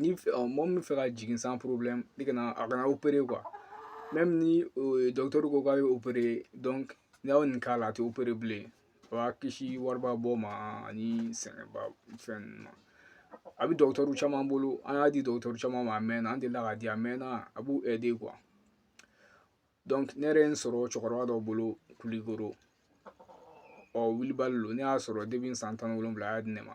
ni mɔgɔ min fɛ ka jigin sans problème a kana opérer quoi même ni docteur ko k'a ye opérer donc n'a y'o nin k'a la a tɛ opérer bilen a b'a kisi wariba bɔ ma ani sɛgɛnba fɛn ninnu ma a bɛ docteur caman bolo an y'a di docteur caman ma a mɛnna an delila k'a di a mɛnna a b'u aider quoi donc ne yɛrɛ ye n sɔrɔ cɛkɔrɔba dɔ bolo kulikoro ɔ wilibali don ne y'a sɔrɔ depuis san tan ni wolonwula a y'a di ne ma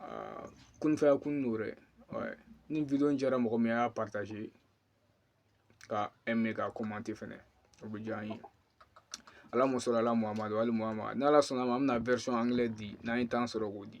aa kunfaya kun n'o dɛ ni vidéo in diyara mɔgɔ min y'a partager ka aimer ka commenter fɛnɛ o bɛ diya an ye allahumma salli ala muhammad wa ali muhammad n'ala sɔnna ma an bɛna version anglais di n'an ye temps sɔrɔ k'o di